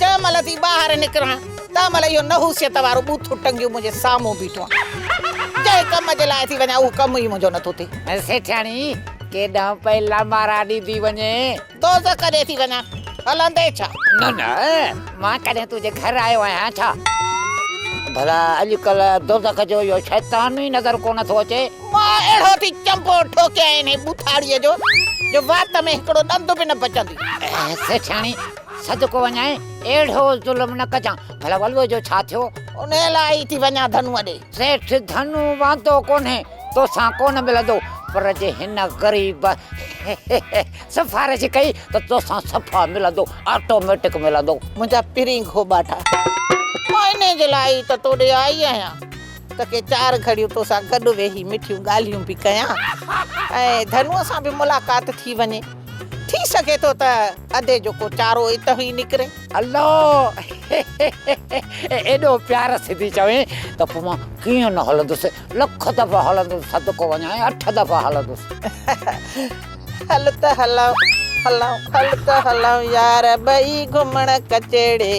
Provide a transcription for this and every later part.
جنهن مهل ٿي ٻاهر نڪران تنهن مهل اهو نحوسيت وارو ٻوٿو ٽنگيو منهنجي سامهون بيٺو آهي. جنهن ڪم جي لاء ٿي وڃان اهو ڪم ئي منهنجو نٿو ٿئي. سيٺياڻي، ڪيڏانهن پئي لمارا ڏيندي وڃين؟ دوزخ ڏي ٿي وڃان، هلندين ڇا؟ نه نه، مان ڪڏهن تنهنجي گهر آيو آهيان ڇا؟ ڀلا اڄڪلهه دوزخ جو اهو شيطان ئي نظر ڪونه ٿو اچي؟ مان اهڙو ٿي چنبو ٺوڪيائين انهيء ٻوٿاڙيء جو جو وات ۾ هڪڙو ڏند به نه بچندي. سيٺياڻي، صدقو وڃائي اهڙو ظلم نه ڪجان. ڀلا ولوء جو ڇا ٿيو؟ انهيء لاء ئي ٿي وڃان ڌنوء ڏي. سيٺ ڌنو واندو ڪونهي، توسان ڪونه ملندو، پر جي هن غريب سفارش ڪئي ته توسان صفا ملندو، آٽوميٽڪ ملندو. منهنجا پرين گهوٻاٽا! مان انهيء جي لاء ئي ته تو ڏي آئي آهيان ته ڪي چار گهڙيون توسان گڏ ويهي مٺيون ڳالهيون به ڪيان ۽ ڌنوء سان به ملاقات ٿي وڃي. ٿي سگهي ٿو ته ادي جو ڪو چارو اتهون ئي نڪري. الله ايڏو پيار سڌي چوين ته پوء مان ڪيئن نه هلندس، لک دفعا هلندس صدقو وڃان اٺ دفعا هلندس. هل ته هلون هلون هل ته هلون يار ٻئي گهمڻ ڪچهڙي.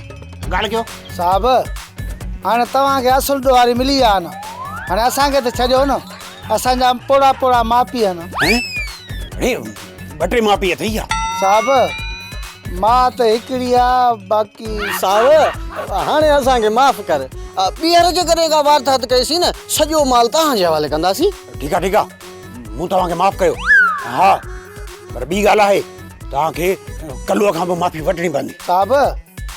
گالگيو صاحب هاڻي توهان کي اصل ڏوهاري ملي ويا آهن هاڻي اسان کي ته ڇڏيو نه اسان جا پوڙها پوڙها ماء پيء آهن. هين اڙي ٻه ٽي ماء پيء اٿئي ڇا؟ صاحب ماء ته هڪڙي آ باقي. صاحب هاڻي اسان کي معاف ڪر ٻيهر جيڪڏهن ڪا واردات ڪئيسين نه سڄو مال توهان جي حوالي ڪنداسين. ٺيڪ آ ٺيڪ آ مون توهان کي معاف ڪيو ها پر ٻي ڳالهه آهي. توهان کي ڪلوء کان به معافي وٺڻي پوندي. صاحب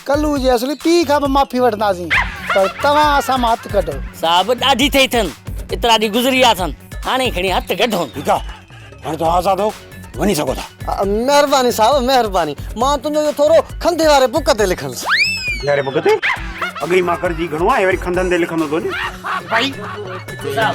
ڪلوء جي اصلي پيء کان به معافي وٺنداسين پر توهان اسان مان هٿ ڪڍو. صاحب ڏاڍي ٿئي اٿن ايترا ڏينهن گذري ويا اٿن هاڻي کڻي هٿ ڪڍون. ٺيڪ آ هاڻي توهان آزاد آهو وڃي سگهو ٿا. مهرباني صاحب مهرباني مان تنهنجو اهو ٿورو کنڌي واري بڪ تي لکندس. کنڌي واري بڪ تي؟ اڳ ئي مان ڪرجي گهڻو آهي وري کنڌن تي لکندو ٿو وڃي. ڀائي صاحب.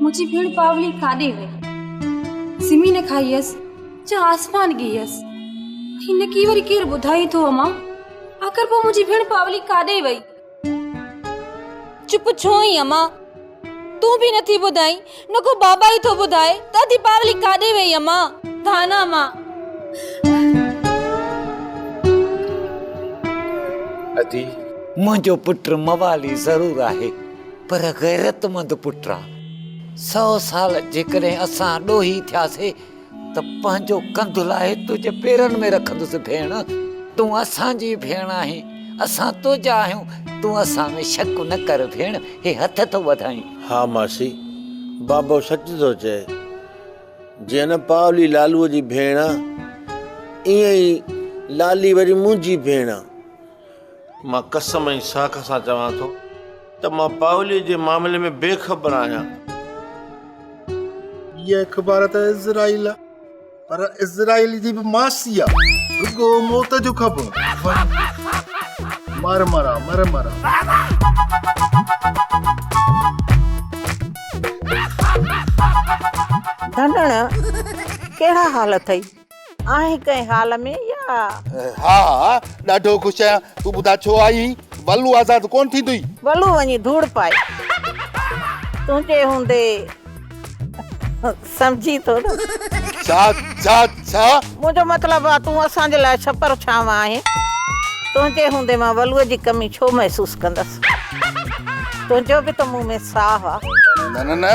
منهنجي ڀيڻ پاولي ڪاڏي وئي؟ سمي نه کائي هيس جا آسمان ڳهي هيس؟ هي نڪي وري ڪير ٻڌائي ٿو امان؟ آخر پوء منهنجي ڀيڻ پاولي ڪاڏي وئي؟ چپ ڇو آهين امان؟ تون به نٿي ٻڌائين، نڪو بابا ئي ٿو ٻڌائي ته اڌي پاولي ڪاڏي وئي امان؟ ڌانا امان! اڌي منهنجو پٽ موالي ضرور آهي، پر غيرتمند پٽا، سؤ سال جيڪڏهن اسان ڏوهي ٿياسي ته پنهنجو ڪنڌ لاهي تنهنجي پيرن ۾ رکندس ڀيڻ، تون اسان جي ڀيڻ آهين، اسان تنهنجا آهيون، تون اسان ۾ شڪ نه ڪر ڀيڻ، هي هٿ ٿو وڌائين. ها ماسي، بابو سچ ٿو چئي، جيئن نه پاولي لالوء جي ڀيڻ آ، ايئن ئي لالي وري منهنجي ڀيڻ آ. مان قسم ۽ ساک سان چوان ٿو ته مان پائولي جي معاملي ۾ بي خبر آهيان. هيء اخبار ته اسرائيل آ پر اسرائيل جي به ماسي آ رڳو موت جو خبر مر مرا مر مرا. ڌنڻ ڪهڙا حال اٿئي. آهين ڪنهن حال ۾ يا؟ ها ها ڏاڍو خوش آهيان تون ٻڌاء ڇو آئي هين ولو آزاد ڪون ٿيندوئي. ولو وڃي ڌوڙ پائي تنهنجي هوندي سمجهين ٿو نه. ڇا ڇا ڇا؟ منهنجو مطلب آ تون اسان جي لاء ڇپر ڇانو آهين تنهنجي هوندي مان ولو جي ڪمي ڇو محسوس ڪندس تنهنجو به ته مون ۾ ساهه آ. نه نه نه.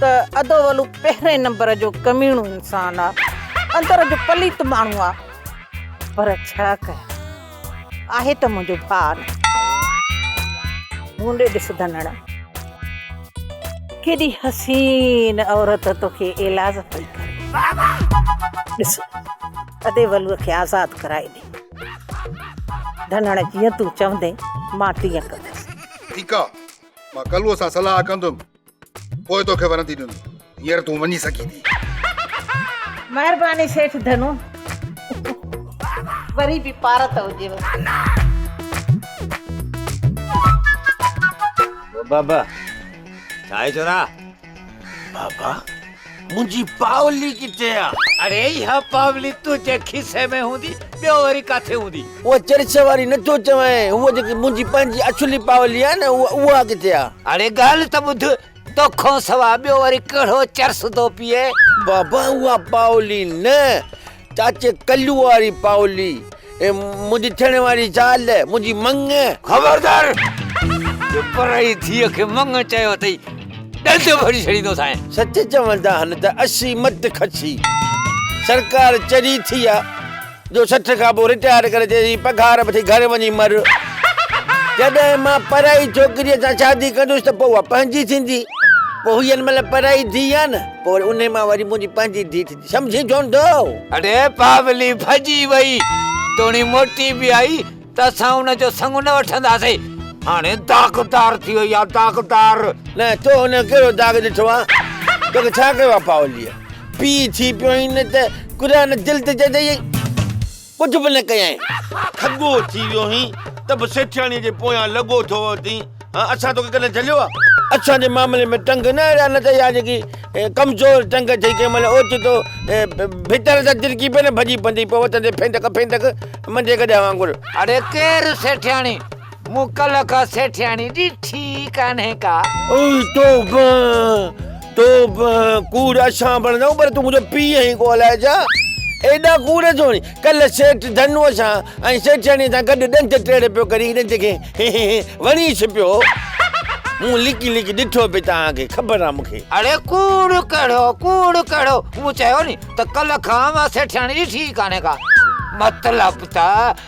ته ادو ولو پهرين نمبر جو ڪميڻو انسان آ اندر جو پليت ماڻهو آ پر ڇا ڪيان آهي ته منهنجو ڀاء نه مون ڏي ڏس ڌنڻ ڪيڏي حسين عورت توکي ايلاز پئي ڪري ڏس ادي ولو کي آزاد ڪرائي ڏي ڌنڻ جيئن تون چوندين مان تيئن ڪندس ٺيڪ آ مان ڪلوء سان صلاح ڪندم پوء توکي ورندي ڏنو هينئر تون وڃي سگهين ٿي. مهرباني سيٺ ڌنو. وري به پارت هجيو. بابا چانهه چورا. بابا منهنجي پاولي ڪٿي آ؟ اڙي اها پاولي تنهنجي کيسي ۾ هوندي ٻيو وري ڪاٿي هوندي؟ اها چرچ واري نٿو چوين هوء جيڪي منهنجي پنهنجي اڇلي پاولي آهي نه اها ڪٿي آ؟ اڙي ڳالهه ته ٻڌ توکان سوا ٻيو وري ڪهڙو چرس ٿو پيئي؟ بابا اها پاولي نه. چاچي ڪليو واري پاولي اي منهنجي ٿيڻ واري زال منهنجي مڱ خبردار جو پرائي ٿيء کي مڱ چيو اٿئي ڏند ڀري ڇڏيندو سائين سچ چوندا هن ته اسي مت کسي سرڪار چري ٿي آ جو سٺ کان پوء رٽائر ڪري چئي پگهار وٺي گهر وڃي مر جڏهن مان پرائي ڇوڪريء سان شادي ڪندس ته پوء اها پنهنجي ٿيندي پوء هي ان مهل پرائي ڌيء آ نه پوء ان مان وري منهنجي پنهنجي ڌيء ٿيندي سمجهي جوندو. اڙي پاولي ڀڄي وئي. توڻي موٽي به آئي ته اسان ان جو سڱ نه وٺنداسين. هاڻي داغدار ٿي وئي آهي، داغدار. نه، تو هن جو ڪهڙو داغ ڏٺو آهي؟ توکي ڇا ڪيو آهي پاوليء؟ پيء ٿي پيو آهين ته قرآن دل تي چتائين. ڪجهه به نه ڪيائين. ٺڳو ٿي ويو هين ته به سيٺياڻيء جي پويان لڳو ٿو وتين. ها اسان توکي ڪڏهن جهليو آ؟ اسان جي معاملي ۾ ٽنگ نه اهڙا نه ته اها جيڪي ڪمزور ٽنگ ٿئي ڪنهن مهل اوچتو ڀتر تان ترڪي پئي نه ڀڄي پندي پوء وتندي ڦينڊڪ ڦينڊڪ منجهي گڏهه وانگر. اڙي ڪير سيٺياڻي؟ موڪل کان سيٺياڻي ڏٺي ئي ڪانهي ڪا. اي توبه توبه ڪوڙ اسان بڻجون پر تون منهنجو پيء آهين ڪو الائي ڇا ايڏا ڪوڙ ڇو آهين ڪلهه سيٺ ڌنوء سان ۽ سيٺياڻيء سان گڏ ڏنت ٽيڙ پيو ڪرين ڏنت کي هي هي هي وڻي ڇپيو هو مون لڪي لڪي ڏٺو پئي توهان کي خبر آهي مون کي. اڙي ڪوڙ ڪهڙو ڪوڙ ڪهڙو مون چيو ني ته ڪلهه کان اها سيٺياڻي ڏٺي ئي ڪانهي ڪا مطلب ته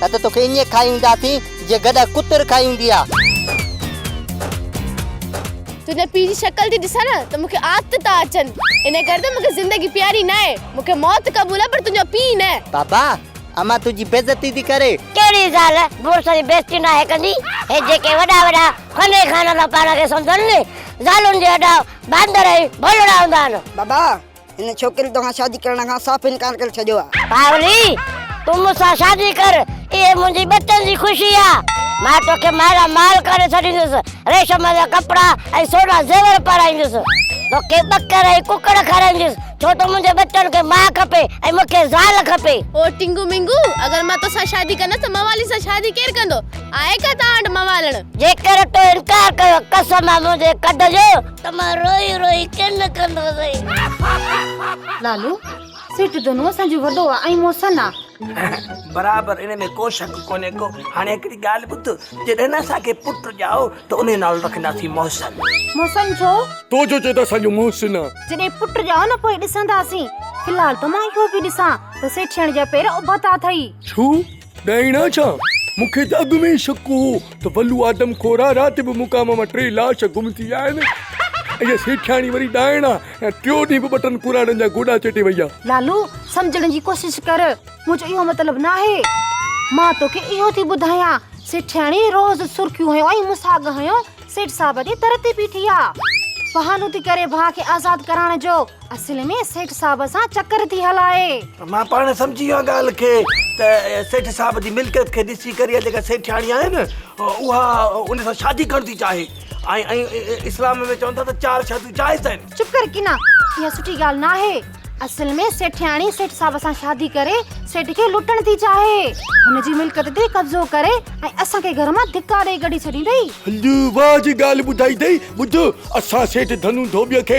نه ته توکي ائين کائي اينداسين جيئن گڏهه ڪتر کائي ايندي آ. تنهنجي پيء جي شڪل ٿي ڏسان نه ته مون کي آت ٿا اچن. ان ڪري ته مون کي زندگي پياري ناهي. مون کي موت قبول آ پر تنهنجو پيء نه. بابا امان تنهنجي بيعزتي ٿي ڪري. ڪهڙي زال مڙس جي بيعزتي ناهي ڪندي. هي جيڪي وڏا وڏا فني خانه ٿا پاڻ کي سمجهن زالن جي اڏا باندر ۽ ڀولڙا هوندا آهن. بابا هن ڇوڪري توهان شادي ڪرڻ کان صاف انڪار ڪري ڇڏيو آ. پاولي تون مون سان شادي ڪر اهي منهنجي ٻچن جي خوشي آ مان توکي مالا مال ڪري ڇڏيندس ريشم جا ڪپڙا ۽ سونا زيور پارائيندس توکي ٻڪر ۽ ڪڪڙ کارائيندس ڇو ته منهنجي ٻچن کي ماء کپي ۽ مون کي زال کپي. او ٽنگو مينگو اگر مان توسان شادي ڪندس ته موالي سان شادي ڪير ڪندو آهي ڪا توهان وٽ موالڻ. جيڪر تو انڪار ڪيو قسم آ منهنجي ڪڍ جو. ته مان روئي روئي ڪن ڪندو سئي. لالو، سيٺ دنو اسان جو وڏو آ ۽ محسن آ. برابر ان ۾ ڪو شڪ ڪونهي ڪو. هاڻي هڪڙي ڳالهه ٻڌ، جڏهن اسان کي پٽ ڄائو ته انهي نالو رکنداسين محسن. محسن ڇو؟ تو جو چئي ته اسان جو محسن آ. جڏهن پٽ ڄائو نه پوء ڏسنداسين. في الحال ته مان اهو پي ڏسان ته سيٺياڻي جا پير اڀا ٿا اٿئي. ڇو؟ ڏائڻا ڇا؟ مون کي ته اڳ ۾ ئي شڪ هو ته ولو آدم خورا رات به مقام مان ٽي لاش گم ٿي ويا آهن. اها سيٺياڻي وري ڏائڻا ۽ ٽيون ڏينهن به ٻه ٽن ڪراڙن جا گوڏا چيٽي وئي آهي. لالو سمجهڻ جي ڪوشش ڪر منهنجو اهو مطلب ناهي. مان توکي اهو ٿي ٻڌايان سيٺياڻي روز سرخيون هنيو ۽ مون ساڳ هنيو سيٺ صاحب جي در تي بيٺي آهي. بهانو ٿي ڪري ڀاء کي آزاد ڪرائڻ جو. اصل ۾ سيٺ صاحب سان چڪر ٿي هلائي. مان پاڻ سمجهي ويو آهيان ڳالهه کي ته سيٺ صاحب جي ملڪيت کي ڏسي ڪري اها جيڪا سيٺياڻي آهي نه اها ان سان شادي ڪرڻ ٿي چاهي ۽ اسلام ۾ چون ٿا ته چار شاديون جائز آهن. چپ ڪر ڪنا اها سٺي ڳالهه ناهي. اصل ۾ سيٺياڻي سيٺ صاحب سان شادي ڪري سيٺ کي لٽڻ ٿي چاهي. هن جي ملڪيت تي قبضو ڪري ۽ اسان کي گهر مان ڌڪا ڏئي ڪڍي ڇڏيندئي. هندو واهه جي ڳالهه ٻڌائي اٿئي. ٻڌ اسان سيٺ ڌنو ڌوٻيء کي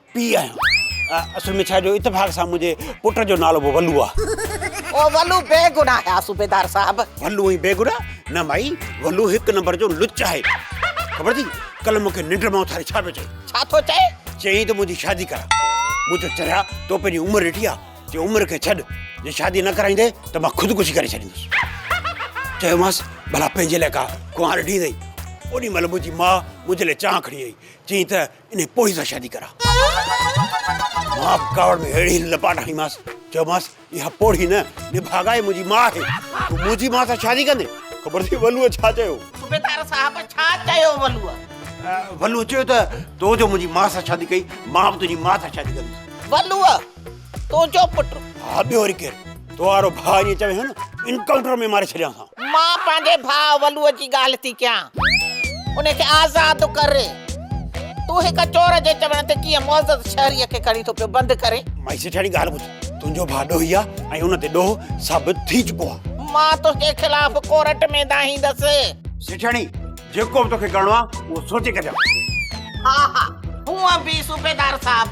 پيء آهيان. اصل ۾ ڇا جو اتفاق سان منهنجي پٽ جو نالو به ولو آهي. او ولو بيگناهه آهي صوبيدار صاحب. ولو ائين بيگناهه نه مائي ولو هڪ نمبر جو لچ آهي. خبر اٿئي ڪلهه مونکي ننڊ مان اٿاري ڇا پيو چئي. ڇا ٿو چئي؟ چيائين ته منهنجي شادي ڪراء. مون چيو چريا تو پنهنجي عمر ڏٺي آهي. چيو عمر کي ڇڏ جي شادي نه ڪرائيندين ته مان خودڪشي ڪري ڇڏيندس. چيومانس ڀلا پنهنجي لاء ڪا ڪنوار ڏيندين. اوڏي مهل منهنجي ماء منهنجي لاء چانهه کڻي آئي. چيائين ته انهيء پوڙهي سان شادي ڪراء. مان به ڪاوڙ ۾ اهڙي لپاٽ هڻيمانس، چيومانس، اها پوڙهي نه، نڀاڳائي منهنجي ماء آهي. تون منهنجي ماء سان شادي ڪندين؟ خبر اٿئي ولوء ڇا چيو؟ صوبيدار صاحب، ڇا چيو ولوء؟ ولوء چيو ته، تو جو منهنجي ماء سان شادي ڪئي، مان به تنهنجي ماء سان شادي ڪندس. ولوء، تون جو پٽ. ها ٻيو وري ڪير؟ تو وارو ڀاء ائين چوي ها نه انڪائونٽر ۾ ماري ڇڏيان ها. مان پنهنجي ڀاء ولوء جي ڳالهه ٿي ڪيان. ان کي آزاد ڪر. تون هڪ چور جي چوڻ تي ڪيئن معزز شهريء کي کڻي ٿو پيو بند ڪرين. مائي سيٺياڻي ڳالهه ٻڌ. تنهنجو ڀاء ڏوهي آ ۽ ان تي ڏوهه ثابت ٿي چڪو آ. مان تنهنجي خلاف ڪورٽ ۾ دانهيندس. سيٺياڻي جيڪو به توکي ڪرڻو آ اهو سوچي ڪجان. ها ها هونء به صوبيدار صاحب.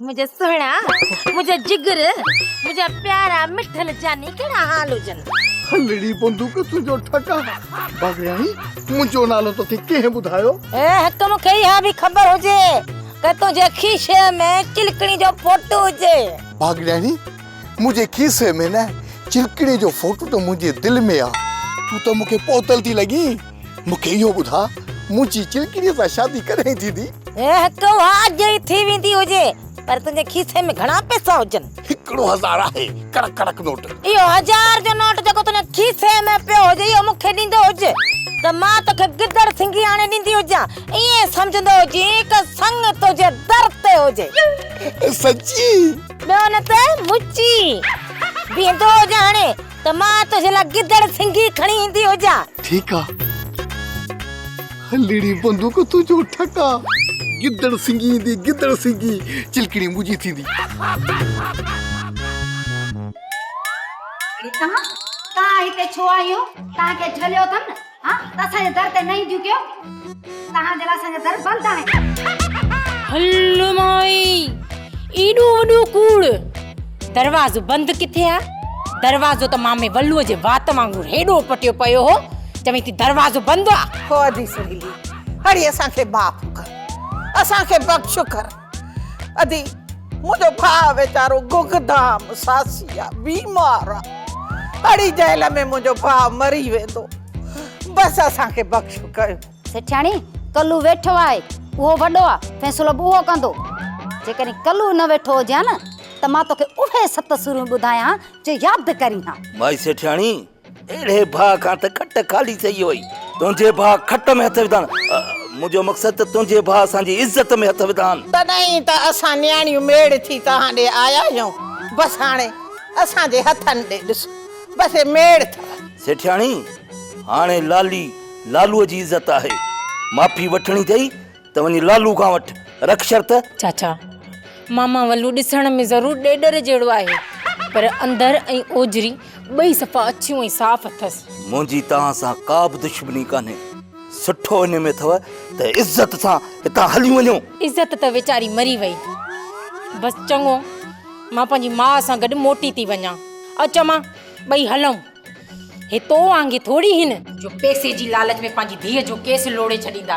منهنجا سهڻا منهنجا جگر منهنجا پيارا مٺل جاني ڪهڙا حال هجن هلڙي بندوق تنهنجو ٺڪا بغياڻي منهنجو نالو توکي ڪنهن ٻڌايو اي حڪم کي اها به خبر هجي ته تنهنجي کيسي ۾ چلڪڻي جو فوٽو هجي بغياڻي منهنجي کيسي ۾ نه چلڪڻي جو فوٽو ته منهنجي دل ۾ آ تون ته مون کي پوتل ٿي لڳين. مون کي اهو ٻڌاء منهنجي چلڪڙيء سان شادي ڪڏهن ٿيندي؟ هڪ اها اڄ ئي ٿي ويندي هجي پر تنهنجي کيسي ۾ گهڻا پئسا هجن؟ هڪڙو هزار آهي ڪڙڪ ڪڙڪ نوٽ. اهو هزار جو نوٽ جيڪو تنهنجي کيسي ۾ پيو هجي اهو مون کي ڏيندو هج ته مان توکي گدڙ سنگهي آڻي ڏيندي هجان ائين سمجهندو هجين ته سڱ تنهنجي در تي هجي. سچي؟ ٻيو نه ته مچي بيهندو هجان هاڻي ته مان تنهنجي لاء گدڙ سنگهي کڻي ايندي هجان. ٺيڪ آ. هلڙي بندوق تنهنجو ٺڪ آ. گدڙ سنگهي ايندي گدڙ سنگهي. چلڪڻي منهنجي ٿيندي. اڙي توهان توهان هتي ڇو آيون توهان کي جهليو اٿم نه. ها ته اسان جي در تي نه اينديون ڪيو توهان جي لاء اسان جا در بند آهن. هل مائي ايڏو وڏو ڪوڙ دروازو بند ڪٿي آ دروازو ته مامي ولو جي وات وانگر هيڏو پٽيو پيو هو چوين ٿي دروازو بند آ. هو ادي سهيلي هڙي اسان کي معاف ڪر اسان کي بخش ڪر. ادي منهنجو ڀاء ويچارو گگ دام ساسي آ بيمار آ اڙي جهل ۾ منهنجو ڀاء مري ويندو بس اسان کي بخش ڪيو سيٺياڻي ڪلو ويٺو آهي اهو وڏو آ فيصلو به اهو ڪندو جيڪڏهن ڪلو نه ويٺو هجي ها نه ته مان توکي اهي ست سوريون ٻڌايان جو ياد ڪرين ها مائي سيٺياڻي اهڙي باهه کان ته کٽ خالي ٿئي وئي. تنهنجي باهه کٽ ۾ هٿ وڌان. منهنجو مقصد ته تنهنجي باهه اسان جي عزت ۾ هٿ وڌان. تڏهن ئي ته اسان نياڻيون ميڙ ٿي توهان ڏي آيا آهيون. بس هاڻي اسان جي هٿن ڏي ڏس. بس هي ميڙ اٿو. سيٺياڻي، هاڻي لالي لالوء جي عزت آهي. معافي وٺڻي اٿئي. ته وڃي لالو کان وٺ، رک شرط. چاچا، ماما ولو ڏسڻ ۾ ضرور ڏيڏر جهڙو آهي، پر اندر ۽ اوجري ٻئي صفا اڇيون ۽ صاف اٿس. منهنجي توهان سان ڪا به دشمني ڪانهي. سٺو ان ۾ اٿو ته عزت سان هتان هليون وڃو. عزت ته ويچاري مري وئي. بس چڱو، مان پنهنجي ماء سان گڏ موٽي ٿي وڃان. اچ امان، ٻئي هلون. هي تو وانگي ٿوري هن. جو پئسي جي لالچ ۾ پنهنجي ڌيء جو ڪيس لوڙهي ڇڏيندا.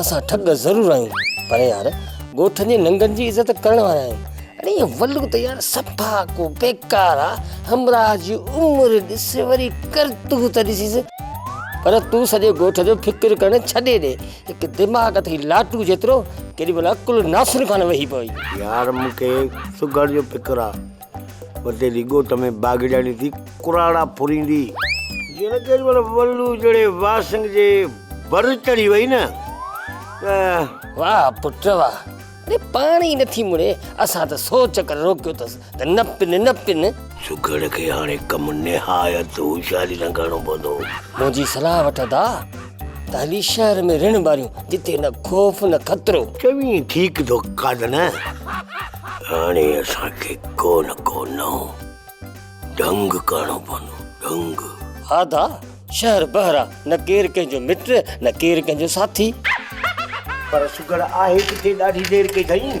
اسان ٺڳ ضرور آهيون پر يار ڳوٺ جي ننگن جي عزت ڪرڻ وارا آهيون اڙي هي ولو ته يار صفا ڪو بيڪار آ همراهه جي عمر ڏس وري ڪرتوت ڏسيس پر تون سڄي ڳوٺ جو فڪر ڪرڻ ڇڏي ڏي هڪ دماغ اٿئي لاٽو جيترو ڪيڏي مهل عقل ناصر خان وهي پوي يار مونکي سگهڙ جو فڪر آ وتي جي ڳوٺ ۾ باغياڻي ٿي ڪراڙا ڦريندي. جنهن ڪيڏي مهل ولو جڙي واسنگ جي ڀر چڙهي وئي نه ته. واهه پٽ واهه. اڙي پاڻ ئي نٿي مڙي. اسان ته سو چڪر روڪيو اٿس ته نه پن نه پن. سگهڙ کي هاڻي ڪم نهايت هوشياري سان ڪرڻو پوندو. منهنجي صلاح وٺ ادا. تعليش شهر ۾ رڻ ٻاريون جتي نه خوف نه خطرو. چوين ٺيڪ ٿو قاد نه هاڻي اسان کي ڪو نه ڪو نئون ڍنگ ڪرڻو پوندو ڍنگ. آدا شهر بحر آ نه ڪير ڪنهن جو مٽ نه ڪير ڪنهن جو ساٿي. پر سگهڙ آهي ڪٿي ڏاڍي دير ڪيڌائين.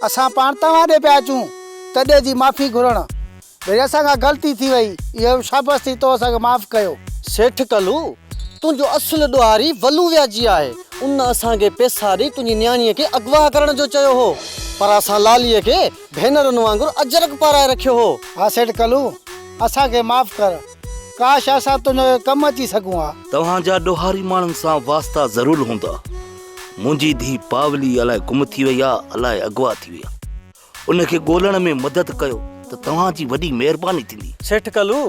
اسان پاڻ توهان ڏي پيا اچون تڏي جي معافي گهرڻ ڀيري اسان کان غلطي ٿي وئي اهو شابس ٿي تو اسان کي معاف ڪيو. سيٺ ڪلو تنهنجو اصل ڏوهاري ولو وياجي آهي ان اسان کي پيسا ڏئي تنهنجي نياڻي کي اغوا ڪرڻ جو چيو هو پر اسان لالي کي ڀينرن وانگر اجرڪ پارائي رکيو هو. ها سيٺ ڪلو اسان کي معاف ڪر ڪاش اسان تنهنجو ڪم اچي سگهون ها. توهان جا ڏوهاري ماڻهن سان واسطا ضرور هوندا. منهنجي ڌيء پاولي الائي گم ٿي وئي آهي، الائي اغوا ٿي وئي آهي. ان کي ڳولڻ ۾ مدد ڪيو ته توهان جي وڏي مهرباني ٿيندي. سيٺ ڪلو،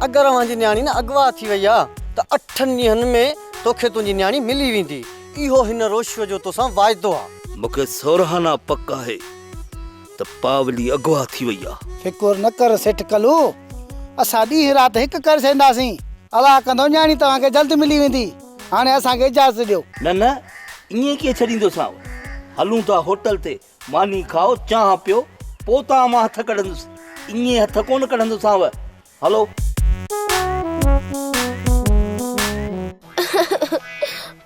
اگر اوهان جي نياڻي نه اغوا ٿي وئي آهي ته اٺن ڏينهن ۾ توکي تنهنجي نياڻي ملي ويندي. اهو هن روشوء جو توسان واعدو آهي. مونکي سورهانه پڪ آهي. ته پاولي اغوا ٿي وئي آ. فڪر نه ڪر سيٺ ڪلو، اسان ڏينهن رات هڪ ڪري ڇڏينداسين. الله ڪندو نياڻي توهان کي جلد ملي ويندي. هاڻي اسان کي اجازت ڏيو. نه نه ائين ڪيئن ڇڏيندوسانو. هلون ٿا هوٽل تي ماني کائو، چانهه پيو، پوء توهان مان هٿ ڪڍندس. ائين هٿ ڪونه ڪڍندوسانو. هلو.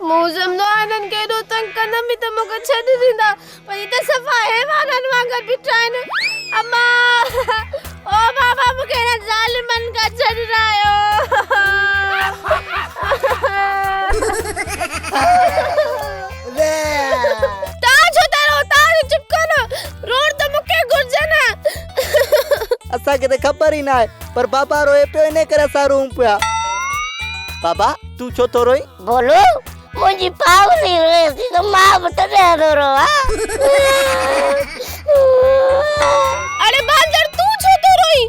مون سمجهيو آهي هنن کي ايڏو تنگ ڪندم به ته مون کي ڇڏي ڏيندا پر هي ته صفا حيوانن وانگر بيٺا آهن. اما! او بابا مون کي هنن ظالمن کان ڇڏرائيو. تان ڇو ٿا روئو تان چپ ڪر روئڻ ته مون کي گهرجي نه. اسان کي ته خبر ئي ناهي پر بابا روئي پيو انهي ڪري اسان روئون پيا. بابا تون ڇو ٿو روئين؟ ڀولو منهنجي پاولي روئي ٿي ته مان به تڏهن ٿو روئان. اڙي باندر تون ڇو ٿو روئين؟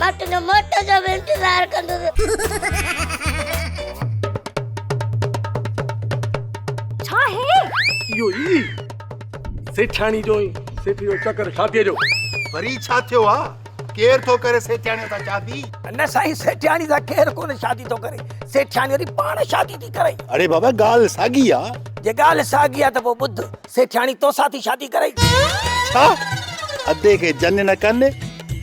مان تنهنجو موٽ جو به انتظار ڪندس. ڇا هي؟ اهو ئي سيٺياڻي جو ۽ سيٺ جو چڪر شاديء جو. وري ڇا ٿيو آ؟ ڪير ٿو ڪري سيٺياڻيء سان شادي؟ نه سائين سيٺياڻي سان ڪير ڪونه شادي ٿو ڪري. سيٺياڻي وري پاڻ شادي ٿي ڪرائي. اڙي بابا ڳالهه ساڳي آ. جي ڳالهه ساڳي آ ته پوء ٻڌ سيٺياڻي توسان ٿي شادي ڪرئي. ڇا ادي کي جن نه ڪن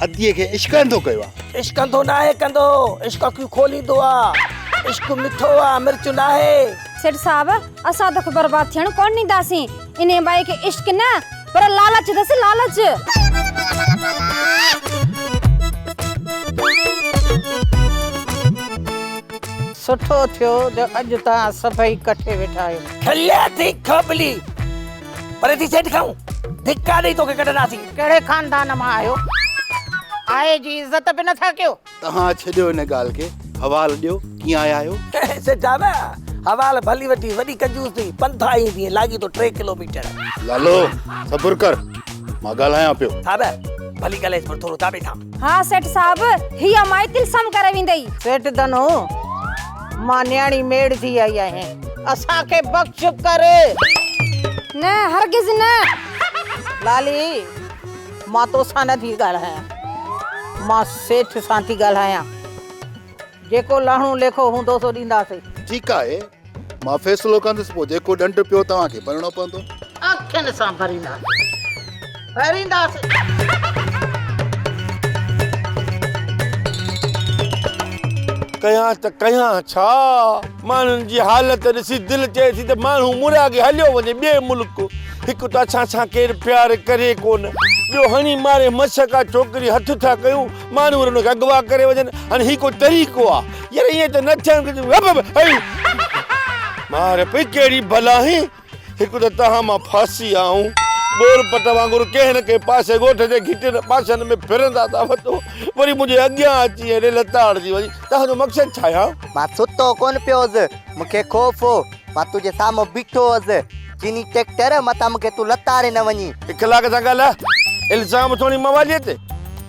ادي کي عشق انڌو ڪيو آ. عشق انڌو ناهي ڪندو عشق اکيون کوليندو آ عشق مٺو آ مرچ ناهي. سيٺ صاحب اسان توکي برباد ٿيڻ ڪونه ڏينداسين انهي ٻائي کي عشق نه پر لالچ اٿس لالچ. سٺو ٿيو جو اڄ توهان سڀئي ڪٺي ويٺا آهيو. کليا ٿي کبلي پري ٿي سيٽ کائون ڌڪا ڏئي توکي ڪڍنداسين ڪهڙي خاندان مان آهيو آهي جي عزت به نٿا ڪيو تهان ڇڏيو ان ڳالهه کي حوال ڏيو ڪيئن آيا آهيو سيٺا نه حوال ڀلي وٺي وڏي ڪنجوس ٿي پنٿا ايئن ٿي لاڳي تو ٽي ڪلوميٽر لالو صبر ڪر مان ڳالهايان پيو صاحب ڀلي ڳالهائيس پر ٿورو تابي ٿام ها سيٺ صاحب هي مائي تلسم ڪري ويندئي سيٺ دنو مان نياڻي ميڙ ٿي آئي آهيان اسان کي بخش ڪر. نه هرگز نه. لالي مان توسان نه ٿي ڳالهايان مان سيٺ سان ٿي ڳالهايان جيڪو لهڻو ليکو هوندو سو ڏينداسين. ٺيڪ آهي مان فيصلو ڪندس پوء جيڪو ڏنڊ پيو توهان کي ڀرڻو پوندو. اکين سان ڀرينداسين. ڪيان ته ڪيان ڇا؟ ماڻهن جي حالت ڏسي دل چئي ٿي ته ماڻهو مورياڳي هليو وڃي ٻئي ملڪ. هڪ ته اسان سان ڪير پيار ڪري ڪونه. ٻيو هڻي ماري مس ڪا ڇوڪري هٿ ٿا ڪيون. ماڻهو وري ان کي اغوا ڪري وڃن. هاڻي هي ڪو طريقو آ؟ يار ائين ته نه ٿيڻ گهرجي. مار پئي ڪهڙي بلا هين هڪ ته تهان مان ڦاسي آئون ٻور پٽ وانگر ڪنهن نه ڪنهن پاسي ڳوٺ جي گهٽين پاسن ۾ ڦرندا ٿا وڃو وري منهنجي اڳيان اچي هيڏي لتاڙجي وڃي تهان جو مقصد ڇا آهي؟ مان ستو ڪونه پيو هوس، مون کي خوف هو، مان تنهنجي سامهون بيٺو هوس، چيني ٽريڪٽر متان مون کي تون لتاڙي نه وڃين. اخلاق سان ڳالهاء، الزام ٿوڻي مواليء تي،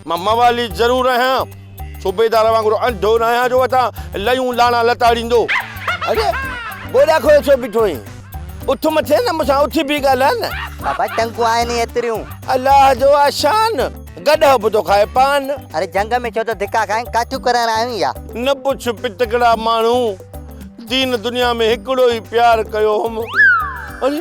مان موالي ضرور آهيان. صوبيدار وانگر انڌو نه آهيان جو اٿان ليون لاڻا لتاڙيندو. اڙي گوڏا کوهي ڇو بيٺو آهين. اٿ مٿي نه مون سان اٿي بيهي ڳالهاء نه. بابا ٽنگون آهن ئي ايتريون. الله جو آ شان. گڏهه به ٿو کائي پان. اڙي جهنگ ۾ ڇو ٿو ڌڪا کائين ڪاٺيون ڪرائڻ آيو آهين ڇا. نه پڇ پٽڪڙا ماڻهو. دين دنيا ۾ هڪڙو ئي پيار ڪيو هوم. اڙي.